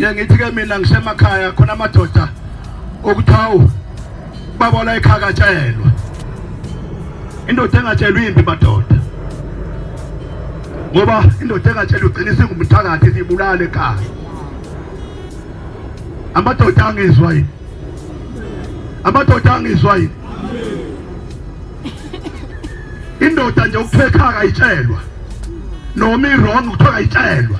ngithi ke mina ngisemakhaya khona amadoda okuthi hawu baba la ekhakatshelwa indoda engatshelwa impi madoda ngoba indoda engatshelwa ugcina isingumthakathi sibulale ekhaya amadoda angizwa yini amadoda angizwa yini indoda nje ukuthiwa ekhaya kayitshelwa noma i-wrong kuthiwa kayitshelwa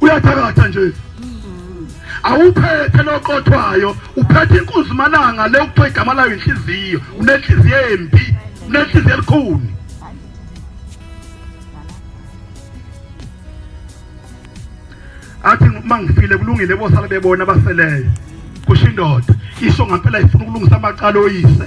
uyathakatha nje awuphethe loqothwayo uphethe inkunzi malanga le ukuthiwa igama layo inhliziyo unenhliziyo embi unenhliziyo elikhuni athi uma ngifile kulungile bosala bebona abaseleyo kusho indoda isho ngampela ifuna ukulungisa amacala oyise